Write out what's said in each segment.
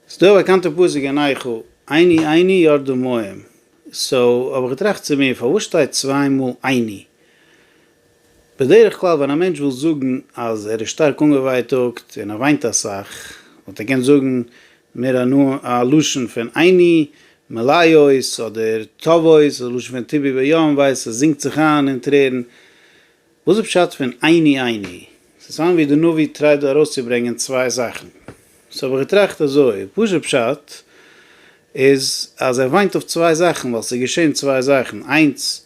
ס'איז דא א באקאנטע פסוק אין איכה, עיני עיני ירדו מים, סאו האב איך געטראכט צו מיר פארוואס שטייט צוויי מאל עיני? בדרך כלל ווען א מענטש וויל זאגן אז ער איז שטארק אנגעווייטאגט און ער וויינט אסאך, וואלט ער געקענט זאגן מער א לשון פון עיני מלאות אדער טובות, א לשון פון טובי ביום, ווייס עס זינגט זיך איין אין טרערן, וואס איז פשט פון עיני עיני? ס'איז פארהאן ווי די נביא טרייט דא ארויסצוברענגען צוויי זאכן. סאו האב איך געטראכט אזוי, פשוט פשט איז אז ער וויינט אויף צוויי זאכן ווייל ס'איז געשען צוויי זאכן, איינס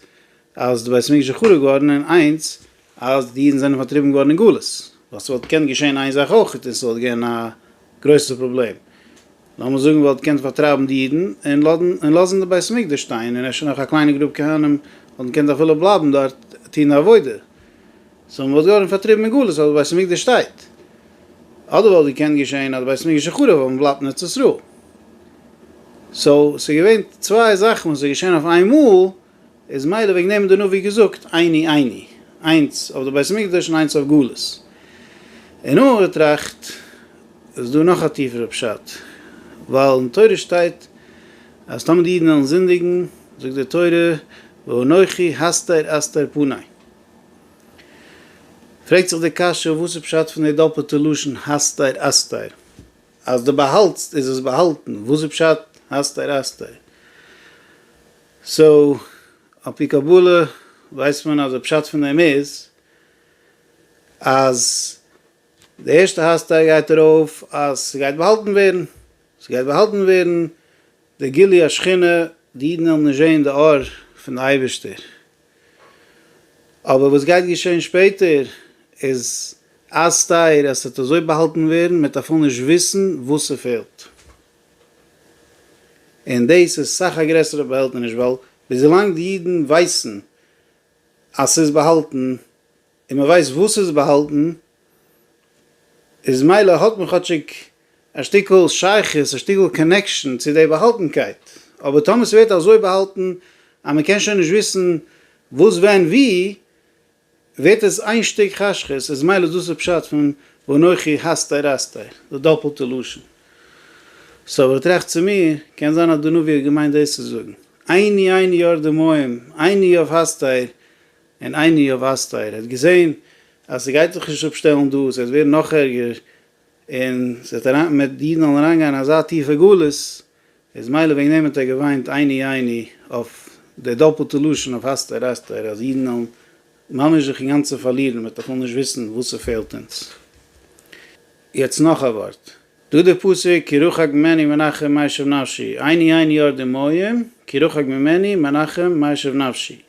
אז די בית המקדש איז חרוב געווארן און איינס אז די אידן זענען פארטריבן געווארן אין גלות. ווייל ס'וואלט געקענט געשען איין זאך אויכעט און ס'וואלט געווען א גרויסע פראבלעם. לאמיר זאגן וואלט געקענט פארטרייבן די אידן און לאזן די בית המקדש שטיין און אפשר נאך א קליינע גרופ כהנים וואלטן געקענט אפילו בלייבן דארט טון די עבודה סאו מען וואלט געווארן פארטריבן אין גלות אבער די בית המקדש שטייט אדער וואלט געקענט געשען אז די בית המקדש איז חרוב אבער מען בלייבט אין ארץ ישראל סאו ס'איז געווען צוויי זאכן וואס איז געשען אויף איינמאל איז מילא וועגן דעם האט דער נביא געזאגט עיני עיני, איינס אויף די בית המקדש און איינס אויף גלות. אין נאר באטראכט איז דא נאך א טיפערע פשט, ווייל אין תורה שטייט אז טאמער די אידן וועלן זינדיגן זאגט די תורה ואנכי הסתר אסתר פני. פרעגט זיך די קשיא וואס איז פשט פון די דאפעלטע לשון הסתר אסתר? אז דו באהאלטסט איז עס באהאלטן, וואס איז פשט הסתר אסתר? סאו, על פי קבלה ווייסט מען אז די פשט פון דעם איז אז די ערשטע הסתרה גייט ארויף אז ס'גייט באהאלטן ווערן, ס'גייט באהאלטן ווערן די גילוי השכינה, די אידן וועלן נישט זען די אור פון די אייבערשטער. אבער וואס גייט געשען שפעטער איז אסתר אז ס'וועט אזוי באהאלטן ווערן מ'וועט אפילו נישט וויסן וואס ס'פעלט. און דאס איז סאך א גרעסערע באהעלטעניש ווייל וויזילאנג די אידן ווייסן אז ס'איז באהאלטן און מ'ווייסט וואס ס'איז באהאלטן איז מילא האט מען כאטשיג א שטיקל שייכות א שטיקל קאנעקשאן צו די באהאלטנקייט אבער טאמער ס'ווערט אזוי באהאלטן אז מ'קען שוין נישט וויסן וואס ווען ווי ווערט עס איין שטיק חשכות, איז מילא דאס איז פשט פון ואנכי הסתר אסתר, די דאפלטע לשון. סאו איך טראכט צו מיר, קען זיין אז דער נביא האט געמיינט דאס צו זאגן, עיני עיני יאר די מים, עיני אויף הסתר, און עיני אויף אסתר, ער האט געזען אז ס'גייט זיך נישט אפשטעלן דא, ס'גייט ווערן נאך ערגער, און ס'וועט אריין מיט די אידן זאלן אריינגיין אין אזא טיפע גלות, איז מילא וועגן דעם האט ער געוויינט עיני עיני אויף די דאפלטע לשון אויף אסתר אסתר אז אידן זאלן ממש זיך אינגאנצן פארלירן מען וועט בכלל נישט וויסן וואס ס'פעלט אונז. יעצט נאך א ווארט דא די פסוק כי רחק ממני מנחם מה ישוב נפשי עיני עיני אור דמעים כי רחק ממני מנחם מה ישוב נפשי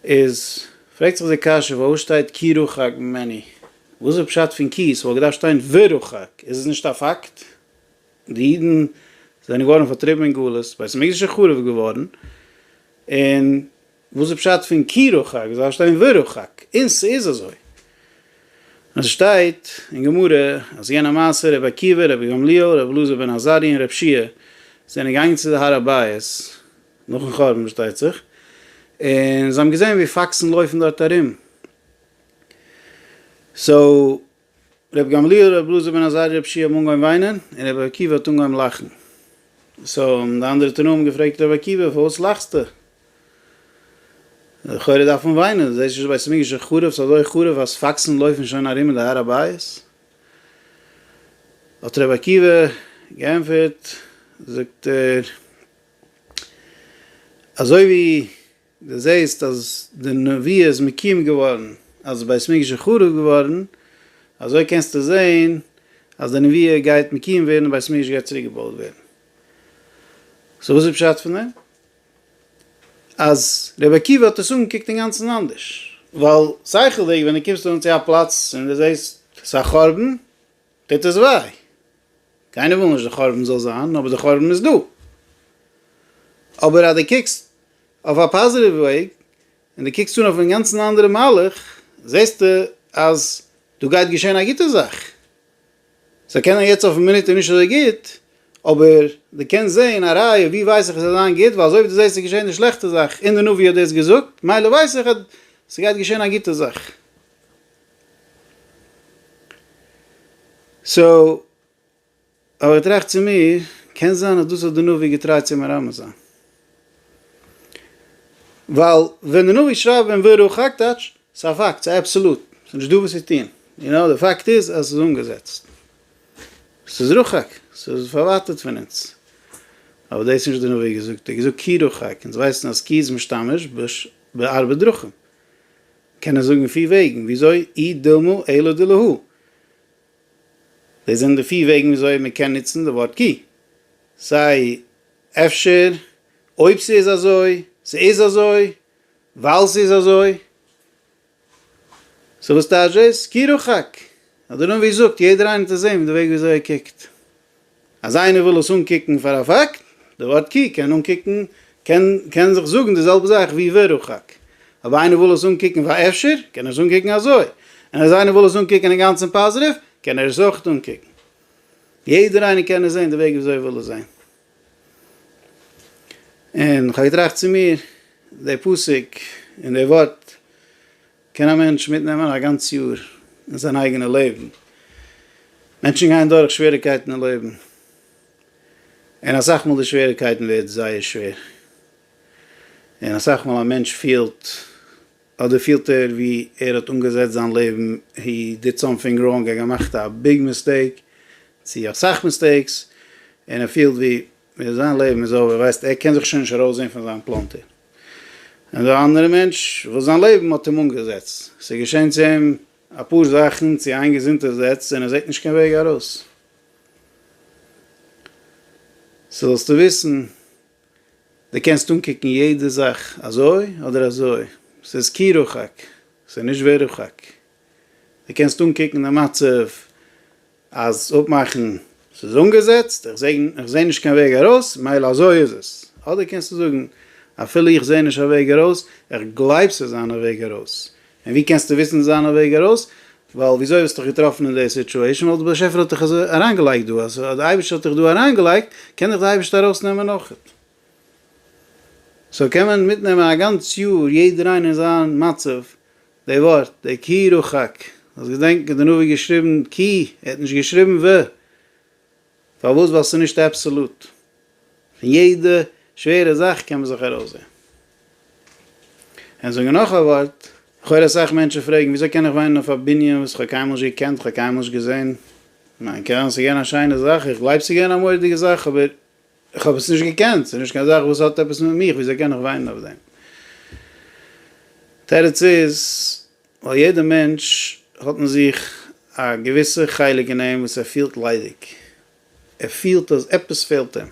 איז פרעגט זיך די קשיא וואו שטייט כי רחק ממני? וואס איז פשט פון כי? ס'וואלט געדארפט שטיין ורחק, איז עס נישט א פאקט? די אידן זענען געווארן פארטריבן אין גלות, בית המקדש איז חרוב געווארן, און וואס איז פשט פון כי רחק? עס דארף שטיין ורחק, און ס'איז אזוי. און ס'שטייט אין גמרא אז יענע מעשה רבי עקיבא, רבי גמליאל, רבי אלעזר בן עזריה און רבשיה זענען געגאנגען צו די הר הבית, נאכן חורבן פארשטייט זיך, און זיי האבן געזען ווי פאקסן לויפן דארט ארום, סאו ר' גמליאל, ר' אלעזר בן עזריה, ר' שי האבן אנגעהויבן וויינען, און ר' עקיבא האט אנגעהויבן לאכן, סאו האבן די אנדערע תנאים געפרעגט ר' עקיבא פארוואס לאכסטו? לכאורה דארף מען וויינען, דו זעסט נישט בית המקדש איז חרוב, ס'איז אזוי חרוב אז פאקסן לויפן שוין ארום אין די הר הבית? האט ר' עקיבא געענטפערט, זאגט ער. אזוי ווי דו זעהסט אז די נביאה איז מקוים געווארן אז די בית מקדש איז חרוב געווארן, אזוי קענסטו זעהן אז די נביאה גייט מקוים ווערן און בית מקדש גייט צוריק געבויט ווערן. סאו וואס איז פשט פון דעם? אז רבי עקיבא האט עס אנגעקוקט אינגאנצן אנדערש, ווייל שכל'דיג ווען דו קומסט אן צו א פלאץ און דו זעהסט ס'איז א חורבן, טוט עס וויי. קיינער וויל נישט די חורבן זאל זיין, אבער די חורבן איז דא. אבער אז דו קוקסט אויף א פאזיטיוו וועג, און דו קוקסט אן אויף אינגאנצן אנדערע מהלך, זעסטו אז דא גייט געשען א גוטע זאך. ס'זאל קענען יעצט אויפן מינוט נישט אזוי גוט, אבער דו קענסט זען א ראיה ווי ווייס איך עס וועט זיין גוט, ווייל אזוי ווי דו זעסט עס געשען די שלעכטע זאך, און די נביא האט דאס געזאגט, מילא ווייס איך אז ס'גייט געשען א גוטע זאך. סאו, האב איך געטראכט צו מיר, קען זיין אז דאס האט די נביא געטרייט צו מרמז זיין. ווייל ווען די נביא שרייבט בן ברוך הק' טייטש, ס'איז א פאקט, ס'איז אבסעלוט, ס'איז נישטא וואס צו טון. יו נאו, די פאקט איז אז ס'איז אנגעזעצט. ס'איז רחוק, ס'איז פארווייטערט פון אונז. אבער דאס איז נישט די נביא געזאגט, ער האט געזאגט כי רחוק, אונז ווייסן אז כי איז משתמש בש ב ארבע דרכים. קען ער זאגן פיר וועגן וויאזוי אי דילמא אילא דילהו. דאס זענען די פיר וועגן וויאזוי מען קען נוצן די ווארט כי. סיי אפשר, אויב ס'איז אזוי, ס'איז אזוי, ווייל ס'איז אזוי. סאו וואס טייטש דאס? כי רחוק. אדער נביא זאגט, יעדער איינער האט עס זעהן מיט די וועג וויאזוי ער קוקט. אז איינער וויל עס אנקוקן פאר א פאקט, די ווארט קו קען אנקוקן קען קען זיך זאגן די זעלבע זאך ווי ורחק, אויב איינער וויל עס אנקוקן פאר אפשר, קען ער עס אנקוקן אזוי, און אז איינער וויל עס אנקוקן אינגאנצן פאזיטיוו, קען ער עס אויך אנקוקן. יעדער איינער קען עס זען די וועג וויאזוי ער וויל עס זען. און כ'האב געטראכט צו מיר, די פסוק און די ווארט, קען א מענטש מיטנעמען א גאנץ יאר אין זיין אייגענע לעבן. מענטשן גייען דורך שוועריגקייטן אין לעבן, און אסאך מאל די שוועריגקייטן ווערט זייער שווער, און אסאך מאל א מענטש פילט, אדער פילט ער ווי ער האט אנגעזעצט זיין לעבן, הי דיד סאמטינג ראנג, ער האט געמאכט א ביג מיסטעיק, צו אסאך מיסטעיקס, און ער פילט ווי ווען זיין לעבן איז אווער ווייסט ער קען זיך שוין נישט ארויסזען פון זיין פלאנטער. און דער אנדערע מענטש וואס זיין לעבן האט אים אנגעזעצט, ס'איז געשען צו אים אפאר זאכן צו איין געזונטער זעץ און ער זעט נישט קיין וועג ארויס. סאו זאלסטו וויסן דו קענסט אנקוקן יעדע זאך אזוי אדער אזוי, ס'איז כי רחוק ס'איז נישט ווער רחוק. די קענסט אנקוקן די מצב אז אפמאכן ס'איז אנגעזעצט, איך זעה איך זעה נישט קיין וועג ארויס, מילא אזוי איז עס. אדער קענסטו זאגן, אפילו איך זעה נישט א וועג ארויס, איך גלייב ס'איז אן א וועג ארויס. און ווי קענסטו וויסן ס'איז אן א וועג ארויס? ווייל וויאזוי האסטו דיך געטראפן אין די סיטועשן? ווייל דער באשעפער האט דיך אזוי אריינגעלייגט דא. אז דער אייבערשטער האט דיך דא אריינגעלייגט, קען דיך דער אייבערשטער ארויסנעמען אויכעט. סאו קען מען מיטנעמען א גאנץ יאר יעדער איינער אין זיין מצב, די ווארט, די כי רחק, זאלסט געדענקן די נביא האט געשריבן כי, ער האט נישט געשריבן ו. פארוואס? ווייל ס'איז נישט אבסעלוט. פון יעדע שווערע זאך קען מען זיך ארויסזעהן. און זאגן נאך א ווארט, איך הער אסאך מענטשן פרעגן, וויאזוי קען איך וואינען אויף א בנין וואס איך האב קיינמאל נישט געקענט, איך האב קיינמאל נישט געזעהן, מיין קרן ס'איז געווען א שיינע זאך, איך גלייב ס'איז געווען א מורא'דיגע זאך, אבער איך האב עס נישט געקענט, ס'איז נישט קיין זאך וואס האט עפעס מיט מיך, וויאזוי קען איך וויינען אויף דעם? תירוץ איז, ווייל יעדע מענטש האט אין זיך א געוויסע חלק אין אים וואס ער פילט ליידיג, ער פילט אז עפעס פעלט אים,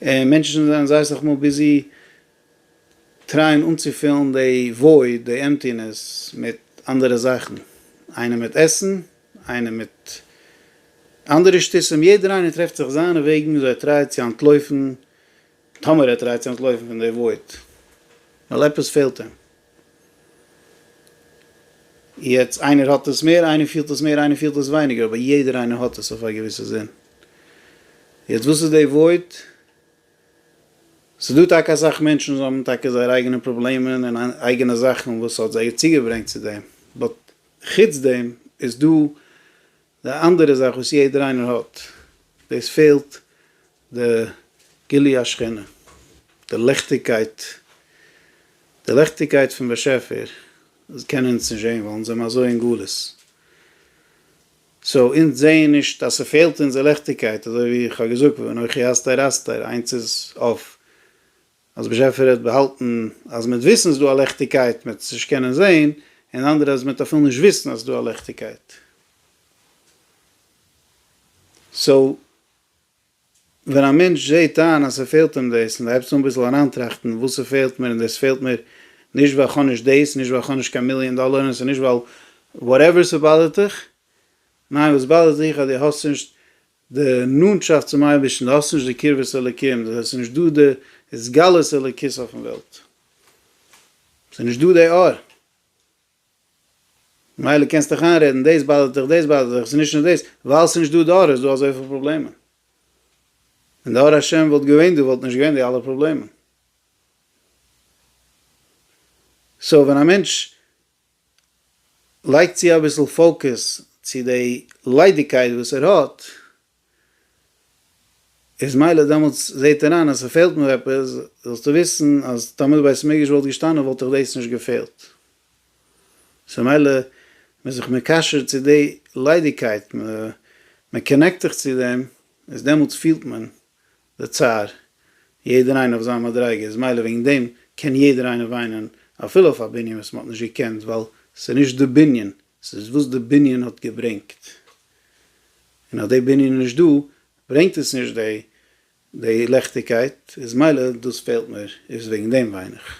און מענטשן זענען זייער סאך מאל ביזי טרייען אנצופילן די void, די עמפטינעס, מיט אנדערע זאכן, איינער מיט עסן, איינער מיט אנדערע שטוסים, יעדער איינער טרעפט זיך זיינע וועגן וויאזוי ער טרייט צו אנטלויפן, טאמער ער טרייט צו אנטלויפן פון די וואוט, ווייל עפעס פעלט אים. יעצט, איינער האט עס מער, איינער פילט עס מער, איינער פילט עס ווייניגער, אבער יעדער איינער האט עס אויף א געוויסע זין. יעצט, וואס איז די וואוט? ס'דא טאקע אסאך מענטשן וואס האבן טאקע זייער אייגענע פראבלעמען און אייגענע זאכן וואס האט זיי צוגעברענגט צו דעם, באט. חוץ דעם איז דא די אנדערע זאך וואס יעדער איינער האט, דאס פעלט די גילוי השכינה, די ליכטיגקייט, די ליכטיגקייט פון באשעפער קענען אונז נישט זען ווייל אונז זעמער אזוי אין גלות, סאו אונז זעען נישט אז ס'פעלט אונז די ליכטיגקייט, אזוי ווי איך האב געזאגט ואנכי אסתר אסתר, איינס איז אויף אז באשעפער האט באהאלטן אז מיט וויסן איז דא א ליכטיגקייט מיט עס נישט קענען זעהן, און אנדערע אז מיט אפילו נישט וויסן אז ס'איז דא א ליכטיגקייט. סאו ווען א מענטש זעהט איין אז ס'פעלט אים דאס און הייבסט אן ביסל אריינטראכטן וואס ס'פעלט מיר און דאס פעלט מיר נישט ווייל כ'האב נישט דאס, נישט ווייל כ'האב נישט קיין מיליאן דאלאר און ס'איז נישט ווייל וואטעווער ס'באדערט דיך, ניין וואס באדערט דיך אז דו האסט נישט די נאנטשאפט צום אייבערשטן, די האסט נישט די קרבת אלקים, דאס הייסט ס'נישט דא די התגלות אלוקית אויפן וועלט, ס'איז נישט דא די אור, מילא קענסט דיך איינרעדן דאס באדערט דיך דאס באדערט דיך, ס'איז נישט נאר דאס, ווייל ס'איז נישט דא די אור איז דא אזויפיל פראבלעמען, ווען די אור השם וואלט געווען דא וואלט נישט געווען די אלע פראבלעמען. סאו ווען א מענטש. לייג צו אביסל פאוקעס צו די ליידיגקייט וואס ער האט, איז מילא דעמאלטס זעט ער איין אז ס'פעלט מיר עפעס, זאלסטו וויסן אז טאמער די בית המקדש וואלט געשטאנען וואלט דיך דאס נישט געפעלט, סאו מילא מען איז זיך מקשר צו די ליידיגקייט, מען קאנעקט זיך צו דעם, איז דעמאלטס פילט מען לצער, יעדער איינער אויף זיין מדריגה, איז מילא וועגן דעם קען יעדער איינער וויינען אפילו אויף א בנין וואס מען האט נישט געקענט, ווייל ס'איז נישט די בנין, ס'איז וואס די בנין האט געברענגט, און אז די בנין איז נישט דא ברענגט עס נישט די לעכטיגקייט, איז מילא דאס פעלט מיר, איז וועגן דעם וויין איך.